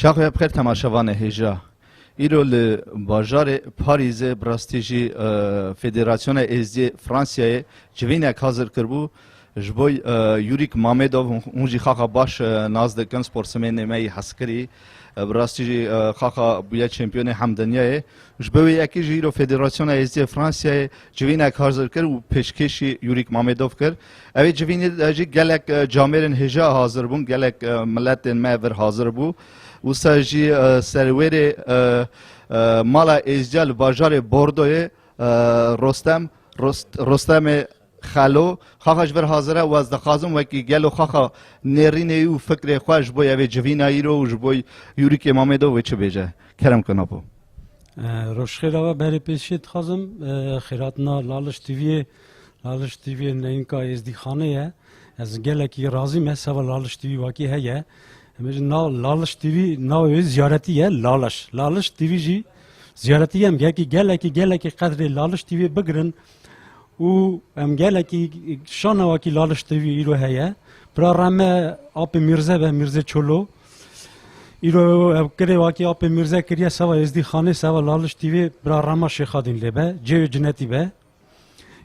Çaxoya bi xêr temaşevanê hêja. Îro li bajarê Parîzê bi rastî jî Federasyona Êzdiyê Fransiyayê civînek hazir kiribû Ji bo Yurik Mamedov hûn jî xaxa baş nas dikin, sportsmenê me yî hezkirî. Bi rastî jî xaxa bûye çempyonê hem dinyayê. Ji bo wê yekê jî îro Federasyona Hêziyê Fransayê civînek hazir kir û pêşkêşî Yurik Mamedov kir. Ev ê civînê de jî gelek camêrên hêja hazir bûn, gelek miletên me vir hazir bû. Wisa jî serwêrê mala Êziya li bajarê Bordoyê Rostem Rostemê, Xelo, Xaxa ji vir hazir e û ez dixwazim wekî gelo Xaxa nêrînê û fikrê xwe ji bo evê civîna îro û ji bo Yûrîkê Mamê do wê çi bêje. Kerem Kinopo. Rojxêr axa, berê pêşê dixwazim xêratina Laliş TV'yê, Laliş TV neynika Êzdîxanê ye. Ez gelekî razî me seba Laliş TV wekî heye. Hemêjî nav Laliş TV navê wê ziyaretî ye Laliş. Laliş TV jî ziyaretî ye. Em yekî gelekî gelekî qedrê Laliş TV'yê bigirin. û em gelekî şana wekî laliştî wî îro heye. Bira reme apê Mîrze be Mîrze Çolo. Îro ev kirê wakî apê Mîrze kiriye seva Êzdî Xanê seva laliştî wê bira rema Şêxadîn lê be. Cêwê cinetî be.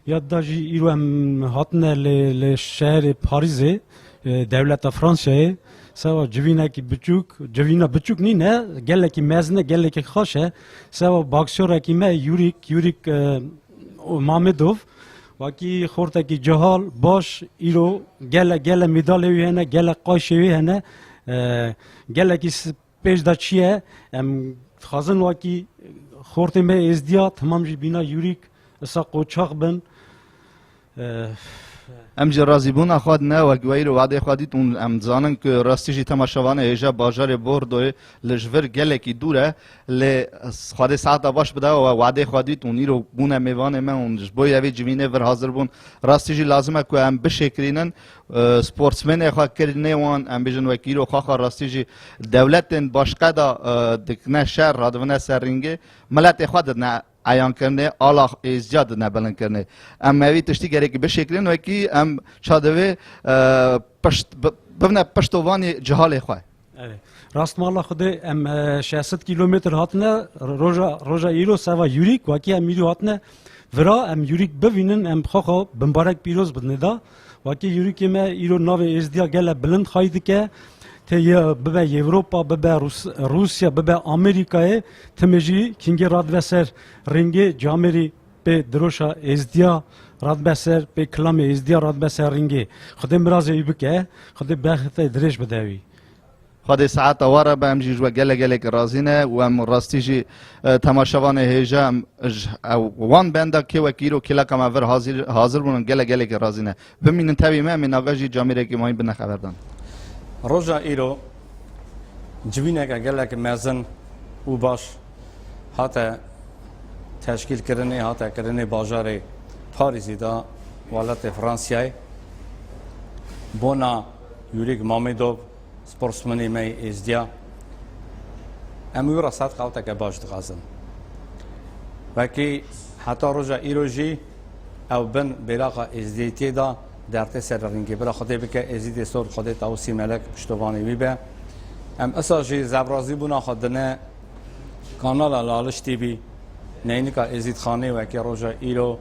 Ya da jî îro em hatine li li şerê Parîzê dewleta Fransayê seva civînekî biçûk civîna biçûk nîne gelekî mezine gelekî xaş e. Sewa bakçorekî me Yurîk Yurîk Mamedov wakî xortekî cehal baş îro gele gele medalê wî hene gele qaşê wî hene gelekî pêş da çi ye em dixwazin wakî xortê me êzdiya timam jî bîna Yurîk isa qoçax bin Em ji razîbûna xwe di nava Guweyr û Wadê xwe dît û em dizanin ku rastî jî tema şevan e hêja bajarê Bordoyê li ji vir gelekî dûr e lê Xwedê saeta baş bide we Wadê xwe dît û îro bûne mêvanê me û ji bo yevê civînê vir hazir bûn. Rastî jî lazim e ku em bişêkirînin sportsmênê xwe kir nê wan em bêjin wek îro xaxa rastî jî dewletên başqeda dikine şer radivine ser rîngê miletê xwe didine eyan kirinê ala êzdiya dine bilind kirinê em mevî tiştî gerekî bişêkilin wekî em ça divê pişt bibne pişto vanê cihalê xwe. Evet. Rast mala xudê em 600 kilometr hatine roja roja îro seva yûrîk wakî em îro hatine vira em yûrîk bivînin em xwe xwe bimbarek pîroz bidine da Vakê yurikê me îro navê êzdiya gele bilind xay dike. Tê ye bibe Yewropa, bibe Rus, Rusya, bibe Amerîkayê timê jî kingê radibe ser rêngê camêrî pê diroşa êzdiya radibe ser pê kilamê êzdiya radibe ser rêngê. Xwedê mirazê wî bike, Xwedê bextê dirêj bide wî. Xwedê saeta wa re be em jî ji we gelek gelek razî ne û em rastî jî temaşevanê hêja em ji wan benda kê wekî îro kêlaka me vir hazir bûn em gelek gelekê razî ne. Bimînin tevî me em ê navber jî camêrekî mayîn bine xeberdan. Roja îro civîneke gelek mezin û baş hate teşkîlkirinê hate kirinê bajarê Parîzî de welatê Fransiyayê. Bona Yurîk Mamêdov Sportsmenê me yê Êzdiya em wî ra serqalteke baş dixwazin. Wekî heta roja îro jî ew bin bêraxa Êzdiyêtiyê da dertê serrengî bila xwedê bike Êzidê sor xwedê Tawusî Melek piştovanê wî be. Em isa jî zevrazîbûna xwe dine Kanala Laliş TV neynika Êzîdxanê wekî roja îro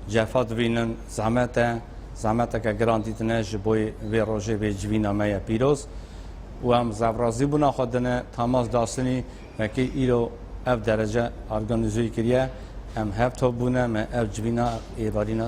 cefa dibînin zehmet e. Zehmeteke giran dîtine ji bo vê rojê vê civîna me ye pîroz û em zevrazîbûna xwe dine Tamas Dasinî wekî îro ev derece organîzoî kiriye. Em hev top bûne me ev civîna ê barîna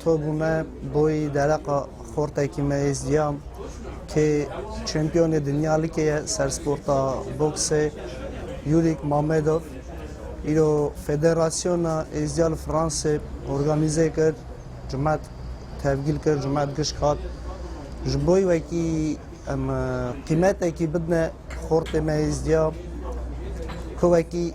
To bû me boyî dereqa xortekî me êz diyam kê çempiyonê dinya likê ye ser sporta boksê Yurik Mamedov îro federasyona êzdiya li Fransê organîze kir cumat tevgîl kir cumat gişk hat ji boyî wekî em qîmetekî bidne xortê me êzdiya ku wekî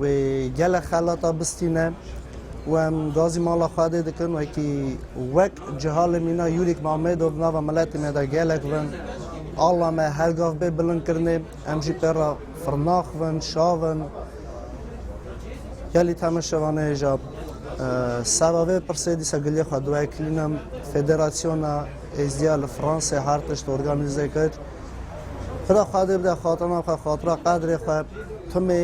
Wê gelek xelata bistîne û em gazî mala xwe dê dikin wekî wek ciha li mîna Yurîk Mamêdov nava miletê me de gelek vin. Ala me her gav bê bilind kirinê, em jî pê re firnax vin, şav in. Gelî temeşevanê hêja seba vê pirsê dîsa giliyê xwe diwekilînim. Federasyona Êzdiya li Fransê her tişt organîze kir. Xuda xwedê bide xatirina xwe xatira qedrê xwe timê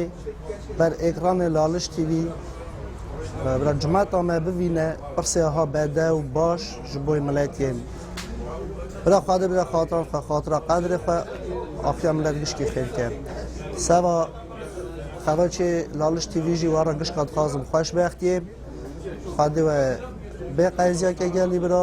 ber ekranê laliş tîvî bira cumeta me bivîne pirsê ha bede û baş ji bo miletiyên bira xwedê bide xatiran xwe xatira qedrê xwe afiya milet gişkî xêrke seva xeveçê laliş tîvî jî wara gişka dixwazim xweşbextiyê xwedê we bê qeziyeke gelî bira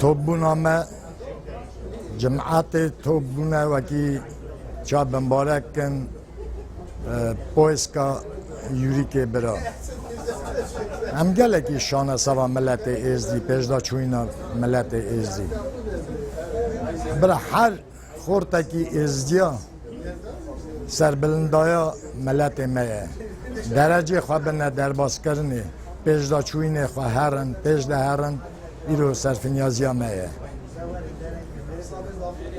Topbûna me cemaetê top bûne wekî ça bimbarek kin poêska Yûrîkê bira. Em gelekî şanesava miletê êzdî pêşda çûyîna miletê êzdî. Bira her Xortekî êzdiya serbilindaya miletê me ye. Derecê xwe bine derbaskirinê, pêşdaçûyînê xwe herin, pêş de herin îro serfinyaziya me ye.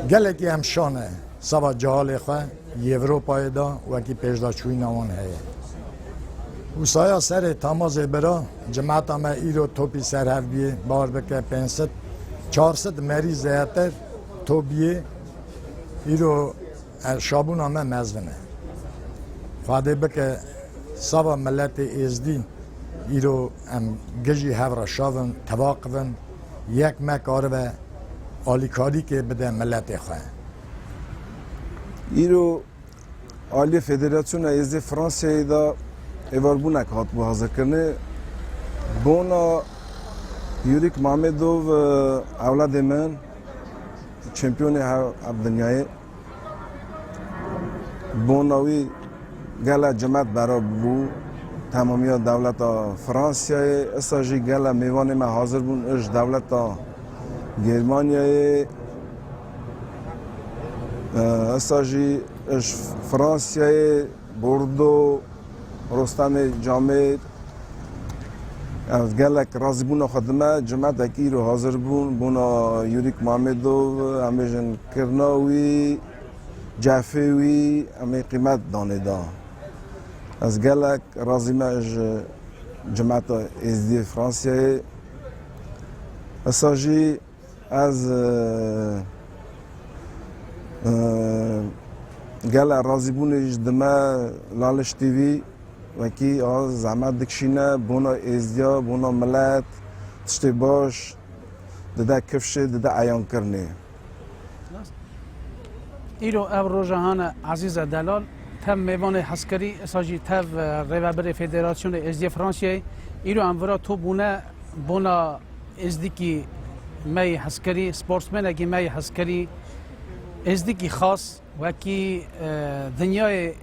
Gelekî em şan e seba cehalê xwe Yevropayê de wekî pêşdaçûyîna wan heye. Wusaya serê Tamazê Bira cemata me îro topî serhevbiyê bar bike pênc sed, çar sed merîz zêetir To biyê îro şabûna me mezin e. Fadê bike sava miletê êzdî îro em gijî hev re şav in, tevaq bin, yek me karibe alîkarîkê bide miletê xwe. Îro Aliyê Federasyona Êzidê Fransayê de êvarbûnek hatibû hazirkirinê. Bona Yurik Mamedov ewladê min çempiyonê her dinyayê bona wî gele cimet bera bû tamamiya dewleta Fransayê esta jî gele mêvanê me hazir bûn ij dewleta Germanyayê Hesa jî ji Fransiyayê Bordo Rostemê Camêr ev gelek razîbûna xwe dime cimetek îro hazir bûn bûna Yurîk Mamêdov em bêjin kirina wî cefê wî em ê qîmet danê da. Ez gelek razî me ji cimeta êzdiyê Fransiyayê. Hesa jî Ez gele razîbûnê ji dime Laliş TV wekî a zehmet dikişîne bona êzdiya bona milet tiştê baş dide kifşê dide eyankirinê. Îro ev roja hane Ezîze Delal tev mêvanê heskirî êsa jî tev rêveberê Federasyonê Êzdiyê Fransiyeyê îro em vira to bûne bona Êzdîkî me yê hezkirî, sportsmenekî me yê hezkirî, êzdîkî xas wekî dinyayê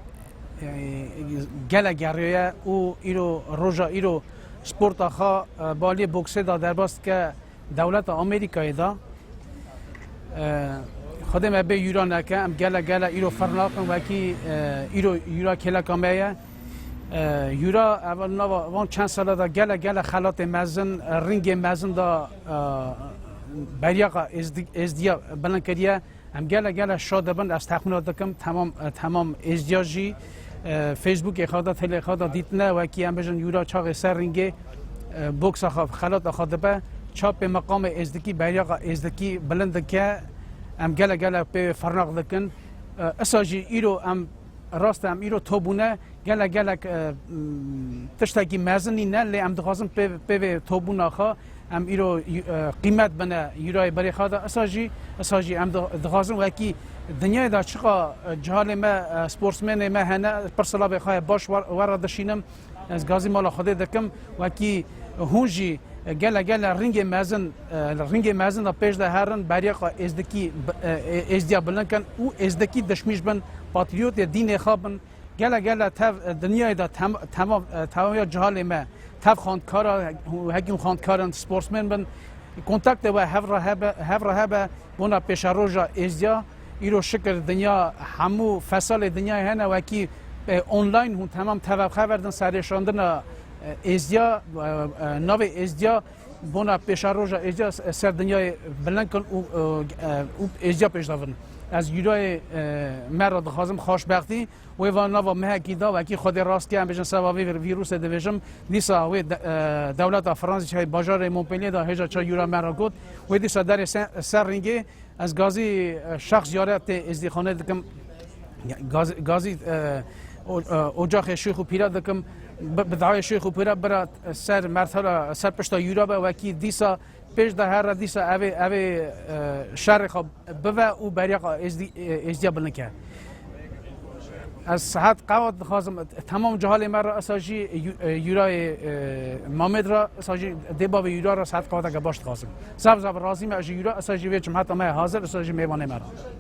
gelek geriyoye û îro roja îro sporta xwe baliyê boksê da derbas dike dewleta Amerîkayê da. Xwedê me bê yûra neke, em gelek gelek îro firnaxin wekî îro yûra kêleka me ye. Hûra ev li nava van çend sala de gelek gelek xelatê mezin, ringê mezin de beryaka êzdiya bilind kiriye. Em gelek gelek şa dibin ez texmîna dikim temam temam êzdiya jî Facebookê xwe de telê xwe de dîtine wekî em bijin hûra çaxê ser ringê boksa xwe xelata xwe dibe çapê meqamê êzdikî beryaka êzdikî bilind dike em gelek gelek pê fernax dikin. Isa jî îro em Rast e em îro tobûne gelek gelek tiştekî mezin nîne lê em dixwazin pê vê tobûna xwe em îro qîmet bine euroyê berê xwe de esa jî esa jî em dixwazin wekî dinyayê de çiqa cihalê me sportsmenê me hene pirsila bê xwe baş were dişînim Ez gazî mala Xwedê dikim wekî hûn jî gele gele ringê mezin ringê mezin da pêş de herin beryaqa êzdikî êzdiya bilind kin û êzdikî dişmîş bin patriyotê dînê xwe bin gele gele tev dinyayê da temam tewamiya cihalê me tev xandkara hekîm xandkarin sportsmen bin kontakte we hev re hebe hev re hebe Bona pêşeroja êzdiya îro şikir dinya hemû fesalê dinyayê hene wekî online hûn temam tevab xeverdin serêşandina êzdiya navê êzdiya bona pêşeroja êzdiya ser dinyayê bilind kin û êzdiya pêşdavin. Ez îroyê me re dixwazim xweşbextî Wê va nava mehekî da wekî Xwedê rastkiya em bêjin seba vê vîrûsê dibêjim. Dîsa wê dewleta Fransî çayê bajarê Montpellier da hêja çay yûra me ra got. Wê dîsa derê ser rîngê ez gazî şex ziyare tê êzdîxanê dikim. Gazî ocaxê şêx û pîra dikim. Bi dawê şêx û pîra bira ser mertera ser pişta yûra be wekî dîsa Pêş de herre dîsa evê evê şerê xwe bive û beriya xwe êzdîya binike. Ez sehet qewet dixwazim temam cihalê me re esa jî yûrayê mamêd re esa jî dê bavê yûra re sehet qeweteke baş dixwazim. Zaf zaf razî me ji yûra esa jî vê çim heta me hazir esa jî mêvanê me re.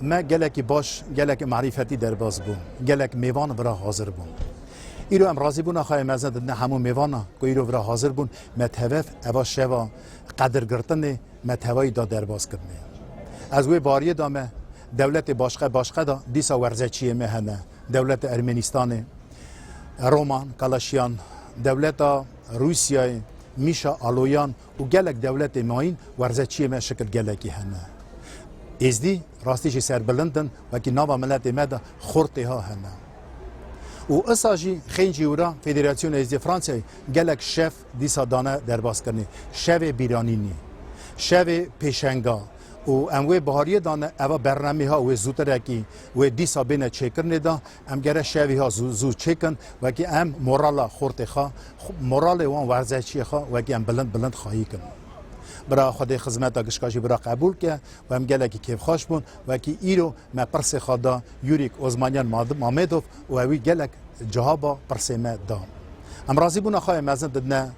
Me gelekî baş, gelek marîfetî derbas bûn. Gelek mêvan vira hazir bûn. Îro em razîbûna xwe yê mezin didin hemû mêvana ku îro vira hazir bûn me tevef eva şeva qedirgirtinê me tevayî da derbaskirinê. Ez wê bariyê de me dewletê başqe başqe de dîsa werzeçiyê me hene dewleta Ermênîstanê, Roman, Kalaşiyan, dewleta Rûsiyayê, Mîşa Aloyan Û gelek dewletê mayîn werzeçiyê me şikil gelekî hene. Êzdî rastî jî serbilind in wekî nava miletê me de xurtêha hene. Û isa jî xêyn jî wira Federasyona Êzdî ya Fransayê gelek şev dîsa dane derbaskirinê. Şevê bîranînî, şevê pêşenga û em wê bihariyê dane eva bernameyê ha wê zûtirekî wê dîsa bêne çêkirinê de Em gere şevîha zû zû çêkin wekî em morala xortê xwe, moralê wan werzehçiyê xwe wekî em bilind bilind xayî kin. Bira Xwedê xizmeta gişka jî bira qebûl ke û em gelekî kêfxweş bûn wekî îro me pirsê xwe da Yurîk Ozmanyan Mamedov û ewî gelek cihaba pirsê me da. Em razîbûna xwe yê mezin didine.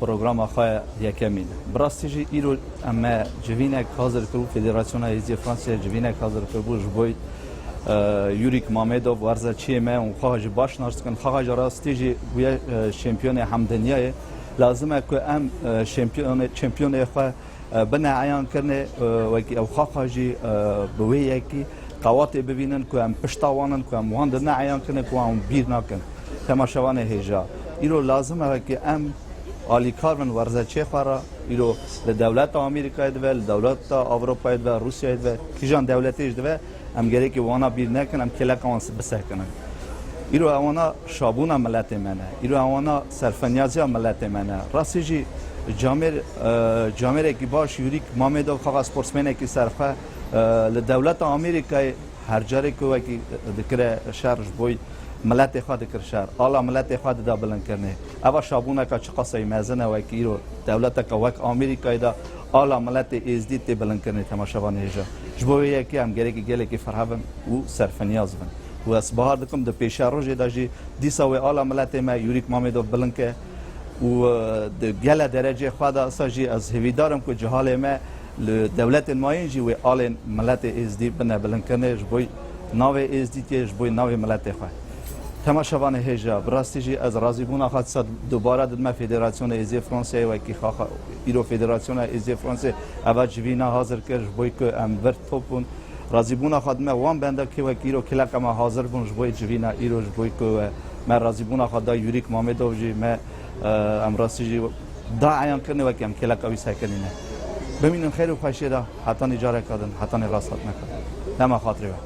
Programa xwe yekemî li. Bi rastî jî îro em me civînek hazir kiribû, Federasyona Hêziyê Fransayê civînek hazir kiribû ji bo Yûrîk Mamêdof, werzeçiyê me û xwe jî baş nas dikin. Xwe ji rastî jî bûye şêmpiyonê hemdinyayê. Lazim e ku em şêmpiyonê şêmpiyonê xwe. Bine eyan kirine wekî ew xaxa jî bi wê yekî qewatê bibînin ku em pişta wan in, ku em wan di ne eyan kirine ku wan bîr nakin. Tema şevanê hêja. Îro lazim e wekî em alîkar bin werzeçê xwe re. Îro li dewleta Amerîkayê dibe, li dewleta Ewropayê dibe, Rûsyayê dibe, kîjan dewletê jî dibe. Em gerêkê wana bîr nekin, em kêleka wan bisekinin. Îro ewana şabûna miletê me ne. Îro ewana serfenyaziya miletê me ne. Rastî jî camêr camêrekî baş Yurîk Mamêdov xexa sportsmenekî serxwe li dewleta Amerîkayê her carê ku wekî dikire şer ji bo miletê xwe dikir şer. Ala miletê xwe dida bilindkirinê. Eva şabûneka çiqaseyî mezin e wekî îro dewleteke wek Amerîkayê de Ala miletê Êzdî tê bilindkirinê temaşevanê hêja. Ji bo wê ye ke em gerekî gelekî ferhevn bin û serfinyaz bin. Û ez sibehar dikim di pêşiya rojê de jî dîsa wê ala miletê me Yurîk Mamêdov bilind ke û di gele derecê xwe de isa jî ez hêvîdar im ku cihalê me li dewletên mayîn jî wê alên miletê Êzdî bine bilindkirinê ji bo navê Êzdî tê ji bo navê miletê xwe. Temaşevanê hêja, bi rastî jî ez razîbûna xwe disa dubare didime Federasyona Êzdî ya Fransayê wekî xaxa Îro Federasyona Êzîdê Fransê eva civîna hazir kir ji bo ku em vir top bûn. Razîbûna xwe dime wan benda kê wek îro kileka me hazir bûn ji bo civîna îro ji bo ku me razîbûna xwe da Yurîk Mamedov jî me em rastî jî da eyan kirine wekî em kêleka wî sekinîne. Bimînin xêr û xweşiyê de hetanî careke din hetanî rast hatine kirin. Dema xatirê we.